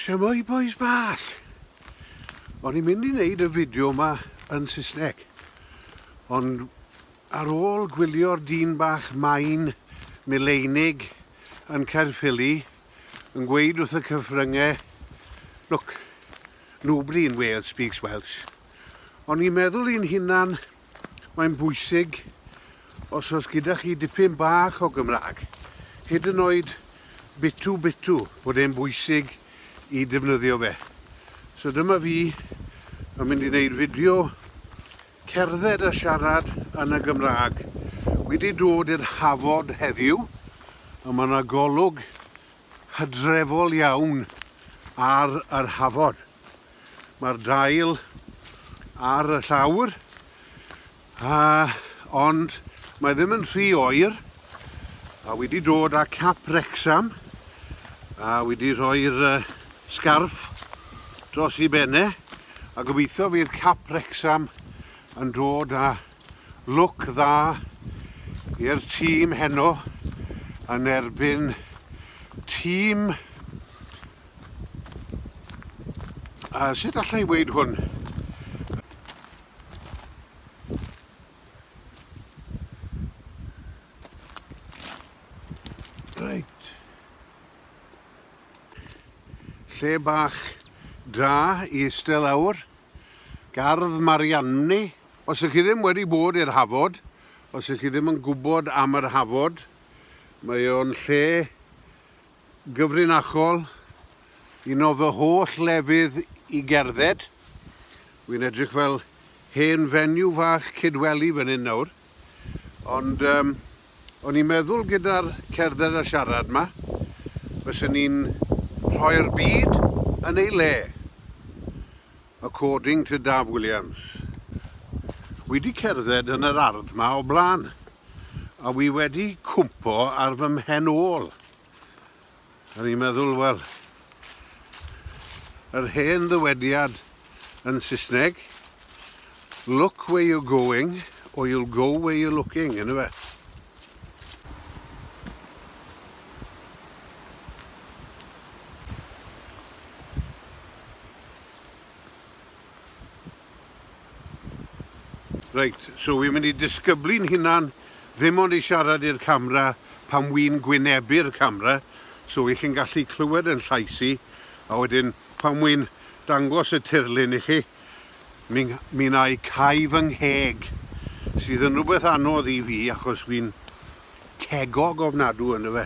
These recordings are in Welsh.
Siamai boys ball! O'n i'n mynd i wneud y fideo yma yn Saesneg, ond ar ôl gwylio'r dyn bach main mileinig yn Caerffili, yn gweud wrth y cyfryngau, look, nobody in Wales speaks Welsh. Ond i'n meddwl i'n hunan, mae'n bwysig os oes gyda chi dipyn bach o Gymraeg, hyd yn oed bitw bitw, bod e'n bwysig i defnyddio fe. So dyma fi yn mynd i wneud fideo Cerdded a siarad yn y Gymraeg. Wi 'di dod i'r Hafod heddiw a ma' 'na golwg hydrefol iawn ar yr Hafod. Mae'r dail ar y llawr a ond mae ddim yn rhy oer A wedi dod â cap Wrecsam a wedi rhoi'r uh, sgarff dros i benne a gobeithio fydd cap Wrecsam yn dod â look dda i'r tîm heno yn erbyn tîm a sut allai weid hwn Reit. Lle bach da i eistedd lawr. Gardd Marianne. Os ych chi ddim wedi bod i'r Hafod, os ych chi ddim yn gwybod am yr Hafod, mae o'n lle gyfrinachol, un o fy holl lefydd i gerdded. Wi'n edrych fel hen fenyw fach cydweli fan hyn nawr. Ond um, o'n i'n meddwl gyda'r cerdded a siarad ma, fysen ni'n rhoi'r byd yn ei le. According to Daf Williams. Wi wedi cerdded yn yr ardd ma o blaen, a wi wedi cwmpo ar fy mhen ôl. A ni'n meddwl, wel, yr hen ddywediad yn Saesneg, look where you're going, or you'll go where you're looking, yn yfe? Reit, so wi'n mynd i disgyblu'n hunan ddim ond i siarad i'r camera pan wi'n gwynebu'r camera, so i chi'n gallu clywed yn llais i, a wedyn pan wi'n dangos y tirlun i chi, mi, mi na i cau fy ngheg, sydd yn rhywbeth anodd i fi achos wi'n cegog ofnadw yndyfe.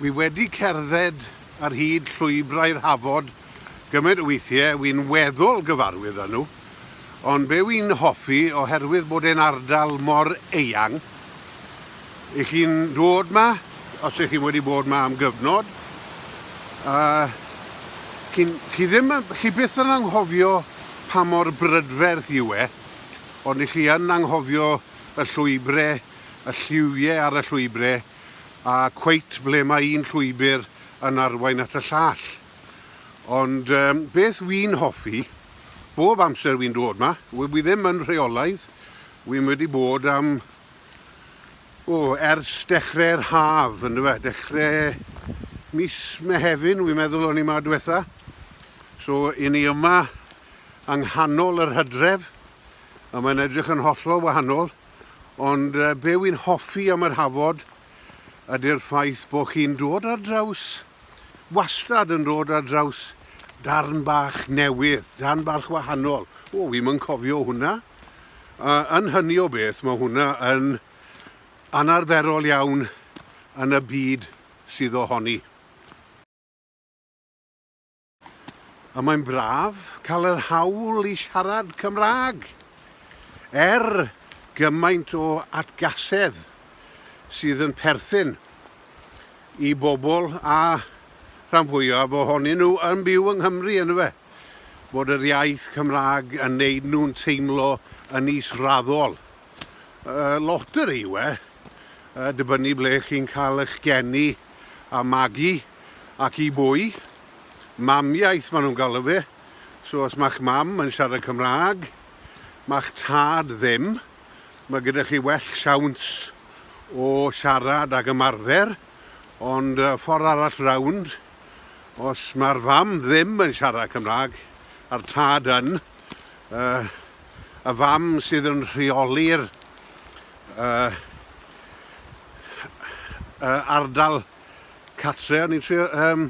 Wi wedi cerdded ar hyd llwybrau'r Hafod gymaint o weithiau, wi'n weddol gyfarwydd â nhw, ond be wi'n hoffi, oherwydd bod e'n ardal mor eang, i chi'n dod 'ma, os ych chi'n wedi bod 'ma am gyfnod, a chi, chi, ddim, chi byth yn anghofio pa mor brydferth yw e, ond i chi yn anghofio y llwybrau, y lliwiau ar y llwybrau, a cweit ble mae un llwybr yn arwain at y llall. Ond um, beth wy'n hoffi, bob amser wy'n dod ma, wy ddim yn rheolaidd, wy'n wedi bod am, o, ers dechrau'r haf, yn dyfa, dechrau mis Mehefin, wy'n meddwl o'n i ma diwetha. So, i ni yma yng nghanol yr hydref, a mae'n edrych yn hollol wahanol. Ond uh, be wy'n hoffi am yr hafod ydy'r ffaith bod chi'n dod ar draws, wastad yn dod ar draws darn bach newydd, darn bach wahanol. O, wy'n yn cofio hwnna. Uh, yn hynny o beth, mae hwnna yn anarferol iawn yn y byd sydd ohoni. A mae'n braf cael yr hawl i siarad Cymraeg, er gymaint o atgasedd sydd yn perthyn i bobl a rhan fwyaf ohonyn nhw yn byw yng Nghymru yn fe, bod yr iaith Cymraeg yn neud nhw'n teimlo yn is-raddol. loteri yw e, dibynnu ble chi'n cael eich geni a magu ac i bwy. Mamiaith maen nhw'n galw fe, so os mae'ch mam yn siarad Cymraeg, mae'ch tad ddim, mae gyda chi well siawns o siarad ac ymarfer, ond ffordd arall rownd, os mae'r fam ddim yn siarad Cymraeg a'r tad yn, Yy, y fam sydd yn rheoli'r yy, yy, ardal catre, o'n i'n trio... Um,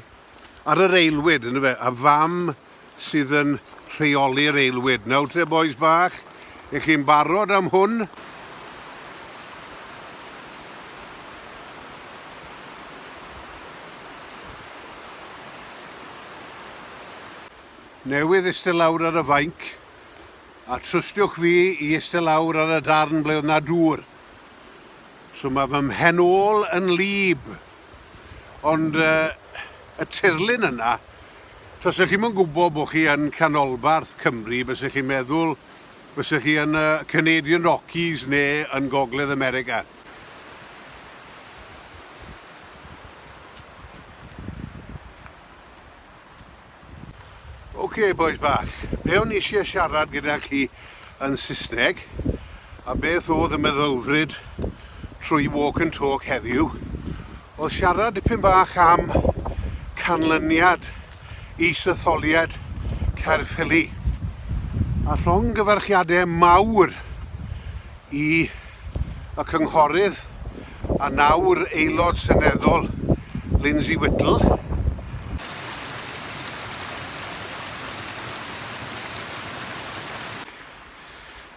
ar yr eilwyd, yn fe, y fam sydd yn rheoli'r eilwyd. Nawr te, boys bach, i chi'n barod am hwn? newydd eistedd lawr ar y fainc, a trystiwch fi i eistedd lawr ar y darn ble oedd na dŵr. So mae fy mhen ôl yn lib. Ond uh, y tirlun yna, tos ych chi'n yn gwybod bod chi yn canolbarth Cymru, bys ych chi'n meddwl bys ych chi yn y Canadian Rockies neu yn Gogledd America. Ok bois bach, be o'n i eisiau siarad gyda chi yn Saesneg a beth oedd y meddylfryd trwy Walk and Talk heddiw oedd siarad dipyn bach am canlyniad is-etholiad Caerffili a llongyfarchiadau mawr i y cynghorydd A nawr Aelod Seneddol Lindsay Whittle.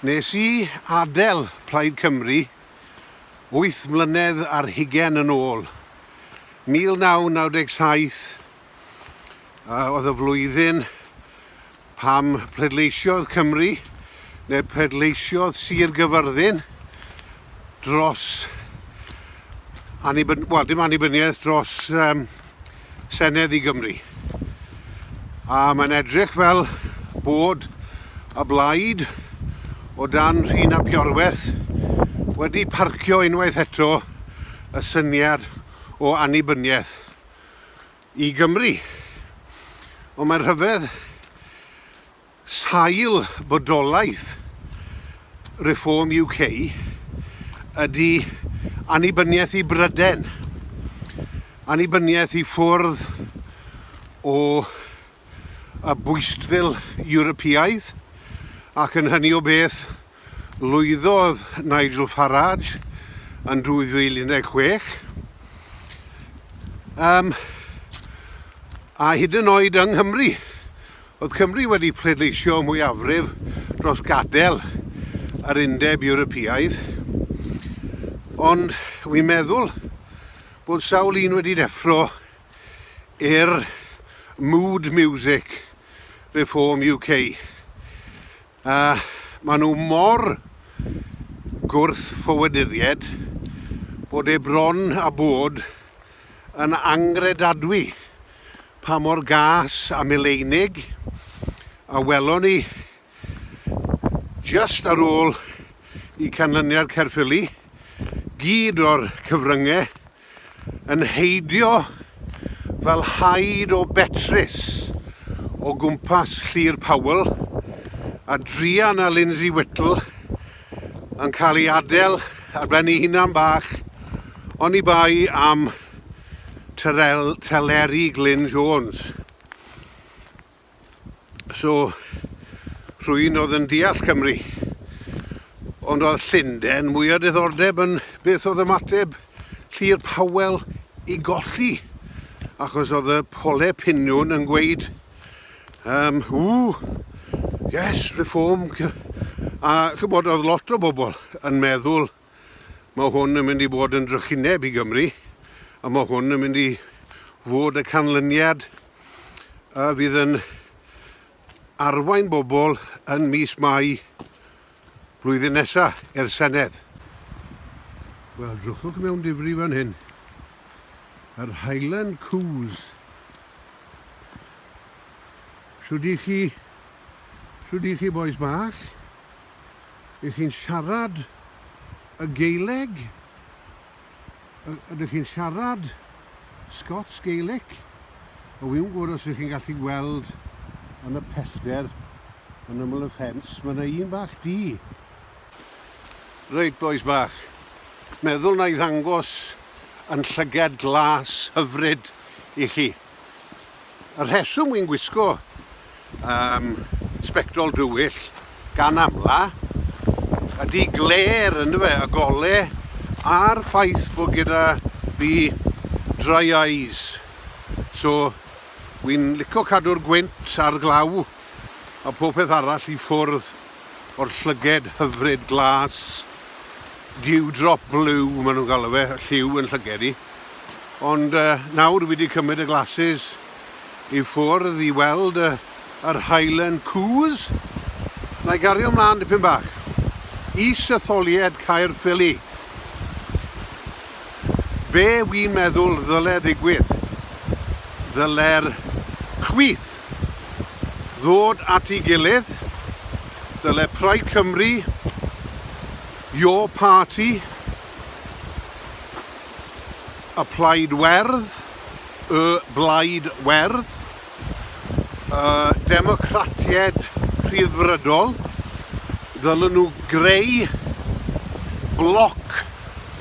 Nes i adael Plaid Cymru wyth mlynedd ar hugain yn ôl. 1997 oedd y flwyddyn Pam pleidleisiodd Cymru, neu pleidleisiodd Sir Gyfyrddin dros annibyniaeth, wel dim annibyniaeth, dros um, Senedd i Gymru. A mae'n edrych fel bod y blaid o dan rhin a piorweth wedi parcio unwaith eto y syniad o annibyniaeth. i Gymru. Ond mae'r rhyfedd, sail bodolaeth Reform UK ydy annibyniaeth i Bryden, annibyniaeth i ffwrdd o y bwystfil Ewropeaidd, ac yn hynny o beth Lwyddodd Nigel Farage yn 2016, um, a hyd yn oed yng Nghymru. Oedd Cymru wedi pleidleisio mwyafrif dros gadael yr undeb Ewropeaidd, ond wi'n meddwl bod sawl un wedi deffro i'r mood music Reform UK. A maen nhw mor gwrthffoaduriaid bod e bron a bod yn angredadwy pa mor gas a mileinig a welon ni jyst ar ôl i canlyniad Caerffili gyd o'r cyfryngau Yn heidio fel haid o Betris o gwmpas Llyr Powell, a druan a Lindsay Whittle yn cael ei adel ar ben ei hunan bach, oni bai am Teleri Glyn Jones. So, rhywun oedd yn deall Cymru. Ond oedd Llundain mwy o diddordeb yn beth oedd ymateb Llyr Powell i golli. Achos oedd y pole piniwn yn gweud, um, ww, yes, reform. A chymod, oedd lot o bobl yn meddwl Mae hwn yn mynd i bod yn drychineb i Gymru a mae hwn yn mynd i fod y canlyniad a fydd yn arwain bobl yn mis Mai blwyddyn nesaf i'r Senedd. Wel, drwchwch mewn difri fan hyn. Yr Highland Coos. Shwd i chi? Shwd i chi boys bach? Ydych chi'n siarad y Gaeleg? Ydych chi'n siarad Scots Gaelic? O fi'n gwybod os ydych chi'n gallu gweld yn y pellder yn ymwyl y ffens, mae yna un bach di. Reit, boys bach. Meddwl na i ddangos yn llygad glas hyfryd i chi. Y rheswm wy'n gwisgo um, sbectol dywyll gan amla ydy gler yn fe, y gole a'r ffaith bod gyda fi dry eyes. So wy'n licio cadw'r gwynt a'r glaw a popeth arall i ffwrdd. o'r llyged hyfryd glas, dewdrop blue maen nhw'n galw fe, lliw yn llyged i. Ond uh, nawr wedi cymryd y glasses i ffwrdd i weld uh, yr Highland Coos. Na i gario ymlaen dipyn bach. Is y tholied Caerffili. Be wi'n meddwl ddyle ddigwydd, ddyle'r chwith ddod at ei gilydd, dyle Plaid Cymru, Your Party, y Plaid Werdd, Y Blaid Werdd, y Democratiaid Rhyddfrydol ddylwn nhw greu bloc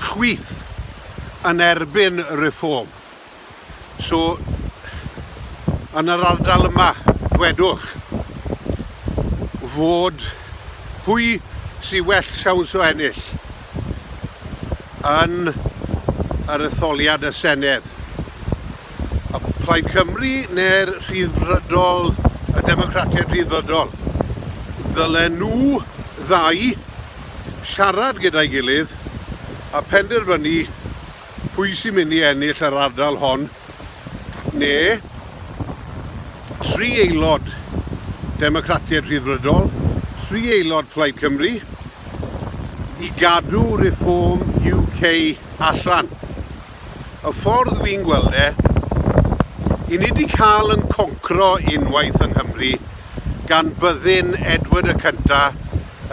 chwith yn erbyn y Reform. So, yn yr ardal yma, dwedwch fod pwy sy'n well siawns o ennill, yn yr etholiad y Senedd. A Plaid Cymru neu'r Rhyddfrydol, y Democratiaid Rhyddfrydol, ddylen nhw ddau siarad gyda'i gilydd a penderfynu Pwy sy'n mynd i ennill yr ardal hon? Neu tri aelod Democratiaid Rhyddfrydol, tri aelod Plaid Cymru i gadw Reform UK allan? Y ffordd fi'n gweld e, i ni wedi cael yn concro unwaith yng Nghymru gan byddin Edward y Cynta'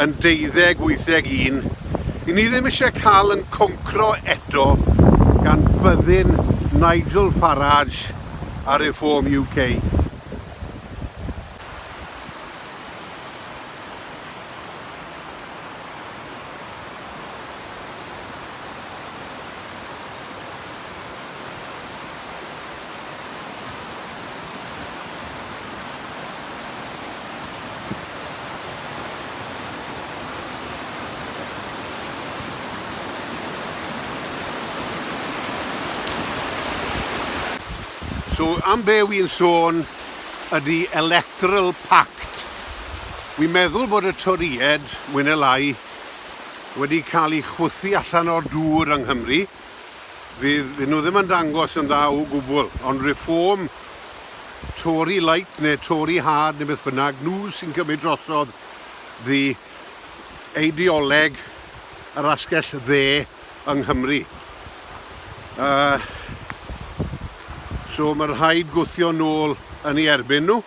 yn deuddeg wytheg un, i ni ddim eisiau cael yn concro eto gan byddin Nigel Farage a Reform UK. So am be wy'n sôn ydy electoral pact. Wy'n meddwl bod y Torïed, mwy neu lai, wedi cael ei chwythu allan o'r dŵr yng Nghymru. Fydd nhw ddim yn dangos yn dda o gwbl, ond Reform, Tory light neu Tory hard neu beth bynnag, nhw sy'n cymryd drosodd ddi eideoleg yr asgell dde yng Nghymru. Uh, so mae rhaid gwthio nôl yn ei erbyn nhw.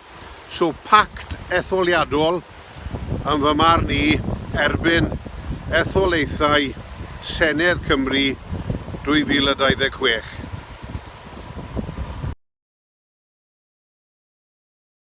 So pact etholiadol, yn fy marn i, erbyn etholaethau Senedd Cymru 2026.